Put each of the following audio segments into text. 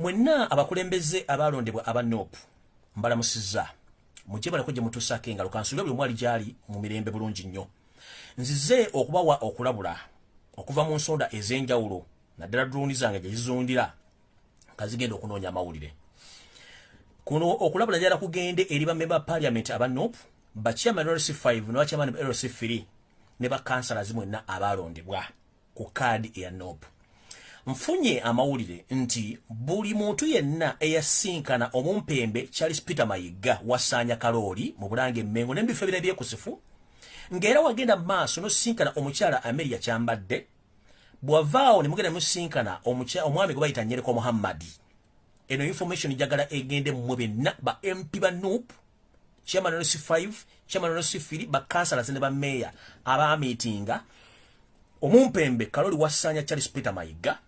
Mwenna abakulembeze abaalondebwa aba NOP mbalamusizza mujje balako gye mutuusaako engalo kansuubira buli mwali gyali mu mirembe bulungi nnyo nzize okubawa okulabula okuva mu nsonda ez'enjawulo naddala duluuni zange gye zizundira nga zigenda okunoonya amawulire kuno okulabula njala kugende eri bamemba ba parliament aba nop bachairman lc 5 ne bachairman lc 3 ne bakansala zimwenna abaalondebwa ku kaadi eya nopu nfunye amawulire nti buli muntu yenna eyasinkana omumpembe charles peter mayigga wasaanya kalooli mu bulanga emmengo n'ebifo ebira ebyekusifu ng'era wagenda maaso nosinkana omukyala ameria kyambadde bwavaawo ne mugenda musinkana omwami gwe bayita nyereko muhammadi eno information njagala egende mmwe benna ba mp ba nup chairman wa nusu 5 chairman wa nusu 4 ba councillors ne ba mayor aba meeting omumpembe kaloli wasanya charles peter mayiga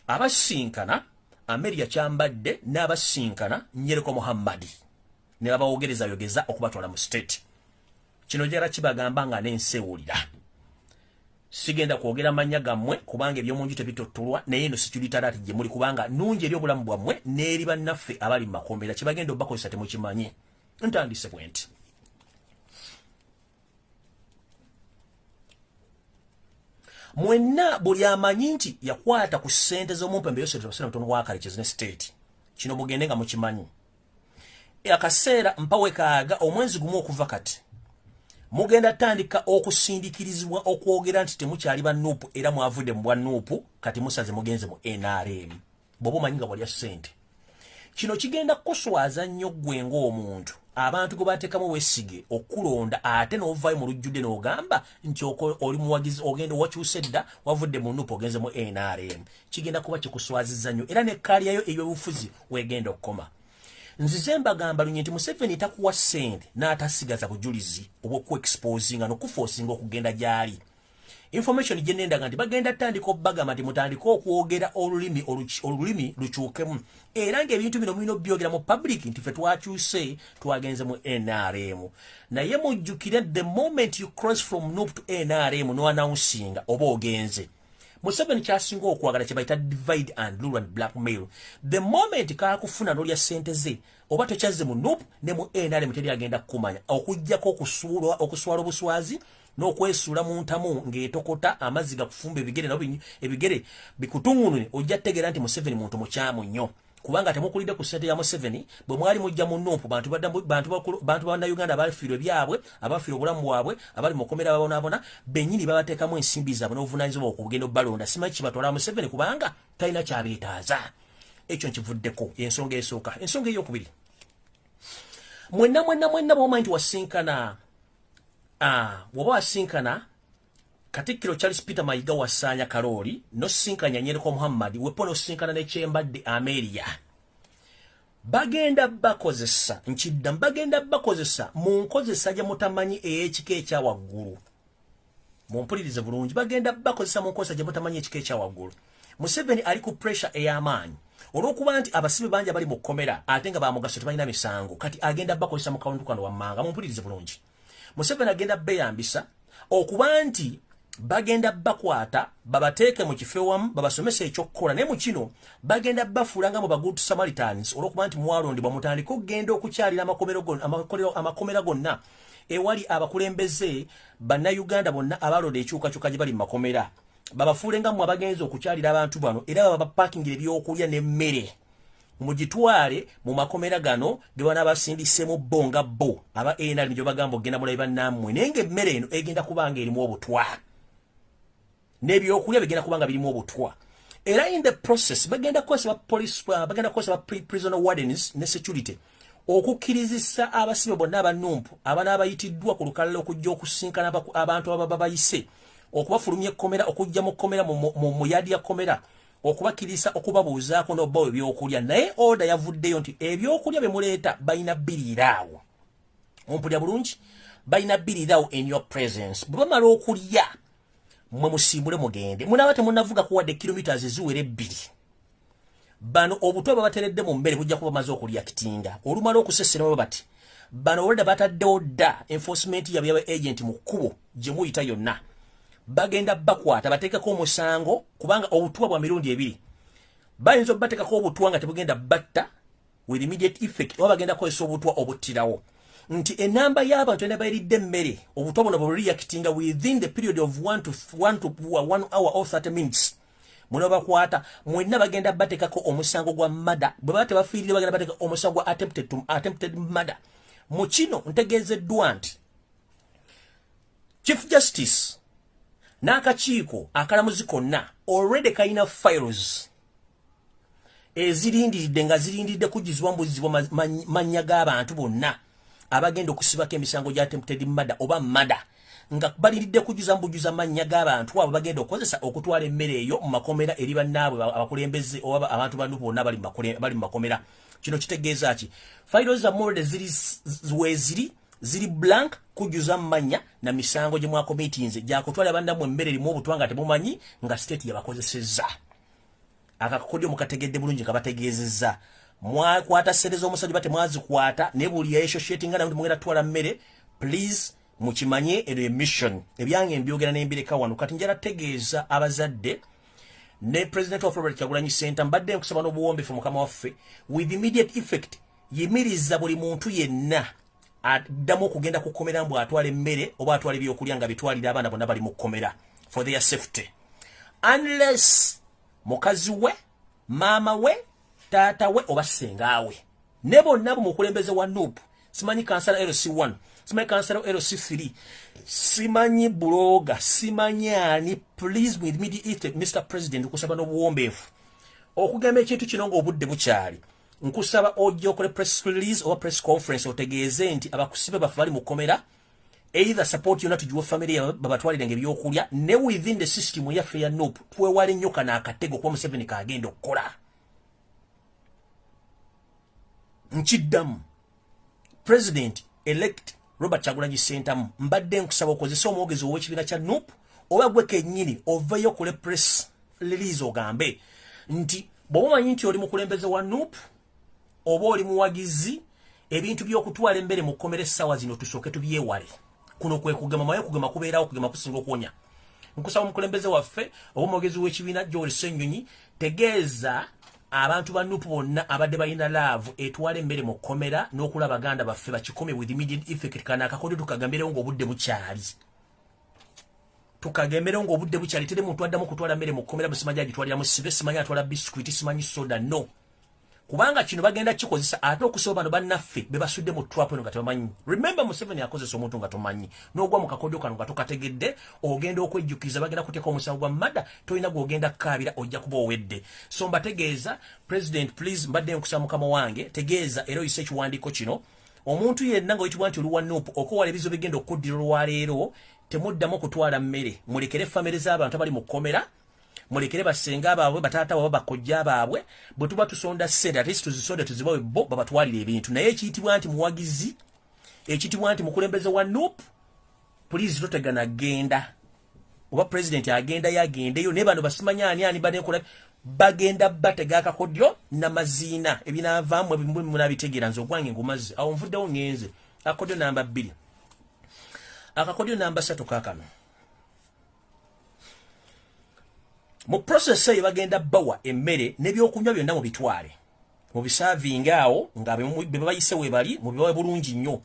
abasinkana ameria chambadde n'abasinkana nyereko muhammadi ne babawogereza yogeza okubatwala mu state kino jara kibagamba nga n'ensi ewulira sigenda kwogera mannya gammwe kubanga eby'omu nju tebitottulwa naye eno sikiritaraati gye muli kubanga nungi eri obulamu bwammwe n'eri bannaffe abali mu makombeera kye bagenda obubakozesa temukimanyi ntandise bwe nti mwenna buli amanyi nti yakwata ku ssente z'omumpembe yosetebasenamutono wakale kizine state kino mugende nga mukimanyi akaseera mpawe kaaga omwezi gumu okuva kati mugenda tandika okusindikirizibwa okwogera nti temukyali ba nuupu era mwavudde mu bwa nuupu kati musaze mugenze mu nrm bwoba omanyi nga walya ssente kino kigenda kukuswaza nnyo ggwe ng'omuntu abantu gwe bateekamu wesige okukulonda ate n'ovaayo mu lujjudde n'ogamba nti oli muwagizi ogenda owakyusa edda wavudde mu nuupu ogenze mu nrm kigenda kuba kikuswaziza nnyo era ne kkaaliyayo ey'obufuzi wegenda okukoma nzize mbagamba lunye nti museveni takuwa sente n'atasigaza bujulizi obwokuexposinga nokufosinga okugenda gyali information gyenendaga nti bagenda tandika obagamba nti mutandike okwogera olulimi olulimi lukyukemu era ngaebintu bino mulina obyogera mu public nti fe twakyuse twagenze mu nrm naye mujjukire the moment you cross from nup to nrm noannounsinga oba ogenze museveni kyasinga okwagala kyebayita divide and rule and black mail the moment kakufuna nolya sente ze oba tokyazze mu nup ne mu nrm teri agenda kukumanya okujjako okusuulwa okuswala obuswazi n'okwesuula mu ntamu ng'etokota amazzi gakufumba ebigere nabyo ebigere bikutuŋunune ojja tegeera nti museveni muntu mukyamu nnyo kubanga temukulidde ku sente ya Museveni bwe mwali mujja mu numpu bantu badda bantu bakulu bantu ba Uganda abafiirwe byabwe abafiirwe obulamu bwabwe abali mukomera babonabona benyini babatekamu ensimbi zaabwe n'obuvunaanyizibwa okugenda obalonda simanyi kibatwala Museveni kubanga talina kyabeetaaza ekyo nkivuddeko ensonga esooka ensonga eyokubiri mwenna mwenna mwenna bwomanyi nti wasinkana ah, bwoba wasinkana Katikkiro Charles Peter Mayiga wa Saanya Kalooli n'osisinkanya Nyereko Muhammad wepo n'osisinkana ne Kyembadde Amelia. Bagenda bakozesa nkidda bagenda bakozesa mu nkozesa gye mutamanyi ey'ekika ekya waggulu. Mumpulirize bulungi bagenda bakozesa mu nkozesa gye mutamanyi ekika ekya waggulu. Museveni ali ku pressure ey'amaanyi olw'okuba nti abasibe bangi abali mu kkomera ate nga bamugaso tebalina misango kati agenda bakozesa mu kawundu kano wammanga mumpulirize bulungi. museveni agenda beyambisa okuba nti bagenda bakwata babateeke mu kifo ewamu babasomesa ekyokukola naye mu kino bagenda bafuula nga mu bagudu samaritans olwokuba nti mwalondebwa mutandike okugenda okukyalira amakomera gonna ewali abakulembeze bannayuganda bonna abaloda ekyukakyuka gye bali mu makomera babafuule nga mwe abagenza okukyalira abantu bano era babapakingira ebyokulya n'emmere mugitwale mu makomera gano gebana basindisemu bo nga bo aba nrm gyebagamba okugenda mulabi bannamwe naye nga emmere eno egenda kubanga erimu obutwa nebyokulya bigenda kubanga birimu obutwa era in the process bagenda kukozesa ba police uh, bagenda kukozesa ba prisoner wardens ne security okukkirizisa abasibe bonna abanumpu abana abayitiddwa ku lukalala okujja okusinkana abantu ababa bayise okubafulumya ekkomera okujja mu kkomera mu yadi ya kkomera okubakiriza okubabuuzaako n'obbawo ebyokulya naye oda yavuddeyo nti ebyokulya bye muleeta balina biriiraawo ompulira bulungi balina biriiraawo in your presence bwe bamala okulya mwe musimbule mugende munaaba temunavuga kuwadde kilometres eziwera ebbiri bano obutwa babateredde mu mmere bujja kuba maze okulyakitinga olumala okuseserawo bati bano olwedda bataddewo dda enforcement yabwe yaba agent mu kkubo gye muyita yonna bagenda bakwata bateekeko omusango kubanga obutwa bwa mirundi ebiri bayinza obubateekako obutwa nga tebugenda batta with immediate effect oba bagenda kukozesa obutwa obuttirawo nti enamba y'abantu ena bayiridde emmere obutwa buno bwe reactinga within the period of one to, one to one hour or 30 minutes muno bakwata mwenna bagenda bateekako omusango gwa mada bwe baba tebafiirire bagenda bateeka omusango gwa attempted, attempted mada mu kino ntegeezeddwa nti chief justice n'akakiiko akalamuzi konna already kalina files ezirindiridde nga zirindiridde kujjizibwa mubuzizibwa mannya g'abantu bonna abagenda okusibako emisango gya tempted mada oba mada nga baliridde kujjuza mubujjuza mannya g'abantu abo bagenda okukozesa okutwala emmere eyo mu makomera eri bannaabwe abakulembeze oba abantu banu bonna bali mu makomera kino kitegeeza ki fairo zammolde ziri weziri ziri blank kujuza manya na misango gye mwakomitinze gyakutwala abanda mu emmere erimu obutwa nga temumanyi nga state yabakozesezza akakodyo mukategedde bulungi kabategeezezza mwakwata sente z'omusajja bate mwazikwata ne buli yayeshoshetinga nawe temugenda twala mmere please mukimanye eno emission ebyange mbyogera nembireka wano kati njala tegeeza abazadde ne president of robert kyagulanyi center mbadde nkusaba n'obuwombefu mukama waffe with immediate effect yimiriza buli muntu yenna addamu okugenda ku kkomera mbu atwala emmere oba atwala ebyokulya nga bitwalira abaana bonna bali mu kkomera for their safety unless mukazi we maama we taata we oba sengaawe ne bonna bu mukulembeze wa nup simanyi kansala lc1 simanyi kansala lc3 simanyi buloga simanyi ani please with midi east mr president okusaba n'obuwombeefu okugamba ekintu kino ng'obudde bukyali nkusaba ojja okole press release oba press conference otegeeze nti abakusibe baffe bali mu kkomera either support yona tugiwe family yabwe babatwalire nga ebyokulya ne within the system yaffe ya nup twewale nnyo kana akatego kuba museveni kaagenda okukola nkiddamu president elect robert kyagulanyi sentamu mbadde nkusaba okozesa omwogezi ow'ekibiina kya nup oba gwe kennyini oveeyo kule press release ogambe nti bw'oba omanyi nti oli mukulembeze wa nup oba oli muwagizi ebintu by'okutwala emmere mu kkomera essaawa zino tusooke tubyewale kuno kwe kugema maye kugema kubeerawo kugema kusinga okuwonya nkusaba omukulembeze waffe oba omwogezi w'ekibiina gyoli ssenyonyi tegeeza abantu ba nupu bonna abadde balina laavu etwala emmere mu kkomera n'okula baganda baffe bakikome with immediate effect kana akakodo tukagambirewo ng'obudde bukyali tukagemberewo ng'obudde bukyali tere muntu addamu kutwala mmere mu kkomera busimanyi agitwaliramu sibe simanyi atwala bisikwiti simanyi soda no kubanga kino bagenda kikozesa ate okusaba bano bannaffe bebasudde mu trap eno nga tebamanyi remember museveni akozesa omuntu nga tomanyi n'ogwa mu kakodyo kano nga tokategedde ogenda okwejjukiza bagenda kuteeka omusango gwa mada tolina gwogenda kukaabira ojja kuba owedde so mbategeeza president please mbadde nkusa mukama wange tegeeza era oyise ekiwandiiko kino omuntu yenna nga oyitibwa nti oluwa nup okowala ebizo bigenda okuddira olwaleero temuddamu okutwala mmere mulekere famire z'abantu abali mu kkomera mulekere basenga baabwe bataata waba bakojja baabwe bwe tuba tusonda sente ate situzisonde tuzibawe bo babatwalira ebintu naye ekiyitibwa nti muwagizi ekiyitibwa nti mukulembeze wa nup pulizi totegana genda oba pulezidenti agendayo agendeyo naye bano basimanya ani ani banekola bagenda batega akakodyo namaziina ebinavaamu ebimunabitegeera nze ogwange ngumazzi awo nvuddewo ngenze akakodyo namba bbiri akakodyo namba satu kakano mu process eyo bagenda bawa emmere n'ebyokunywa byonna mu bitwale mu bisaavinga awo nga be babayise webali mu bibawe bulungi nnyo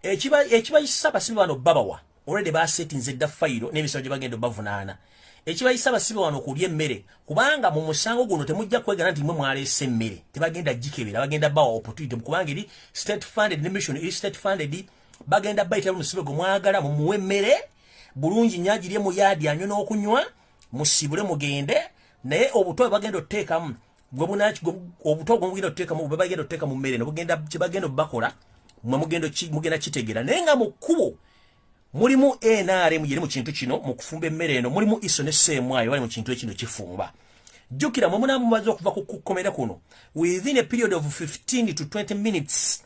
ekibayisa abasibe bano babawa olwedde basetinze dda fayiro n'emisango gye bagenda obavunaana ekibayisa abasibe wano okulya emmere kubanga mu musango guno temujja kwegana nti mwe mwaleese emmere tebagenda gikebera bagenda bawa opportunity kubanga eri state funded ne mission eri state funded bagenda bayitira luno sibe gwe mwagala mumuwe emmere bulungi nnyo agirye mu yaadi anywe n'okunywa musiibule mugende naye obuto bwebagenda otuteekamu obuto gwe mugenda otuteekamu bwebagenda otuteeka mu mmere nobugenda kyebagenda obubakola mwe mugenda kitegeera naye nga mu kkubo mulimu nrm yeri mu kintu kino mu kufumba emmere eno mulimu iso ne seemwayo bali mu kintu ekino kifumba jjukira mwe munamumaze okuva ku kukkomera kuno within a period of 15 to 20 minutes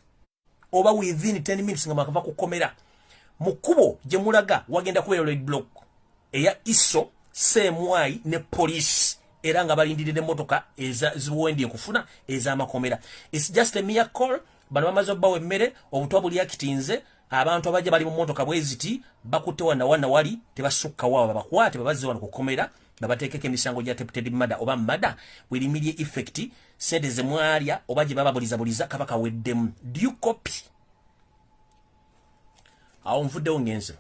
oba within 10 minutes nga mwakava ku komera mu kkubo gye mulaga wagenda kubeera red block eya iso seemwayi ne poliisi era nga balindidde n'emmotoka eziwendye okufuna ez'amakomera its just a mere call bano bamaze obbawa emmere obutwa buli akitinze abantu abajja bali mu mmotoka bwe ziti bakutte wana wana wali tebasukka wawa babakwate babazze wano ku komera babateekeko emisango gya deputed mada oba mada werimirye effect sede zemwalya oba gye bababulizabuliza kaba kaweddemu due copy awo nvuddewo ngenze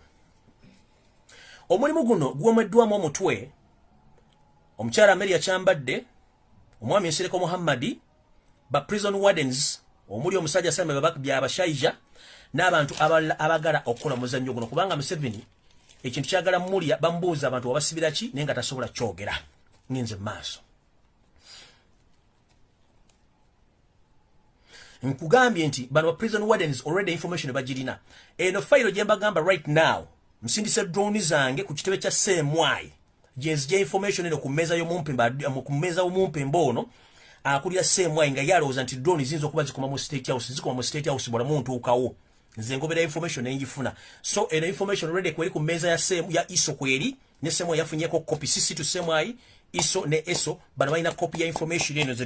omulimu guno gwomweddwamu omutwe omukyala mary yakyambadde omwami nsereko muhammadi ba prison wardens omuli omusajja same byabashaija n'abantu abalala abagala okukola omuzannyo guno kubanga museveni ekintu kyagala mulya bamubuuza abantu wabasibira ki naye nga tasobola kyogera ngenze mu maaso nkugambye nti bano prison wardens already information bagirina eno fayiro gye mbagamba right now nsindise drone zange ku kitebe kya cmy gyenzija information eno ku mmeeza y'omumpemba ono akulira cmy nga yalowooza nti drone ziyinza okuba zikoma mu state house zikoma mu state house bwala muntuukawo nze ngobera information nengifuna so eno information already kweri ku mmeeza ya, ya iso kweri ne semo yafunyeko copy sisi to semai iso ne eso bana balina copy ya information eno ze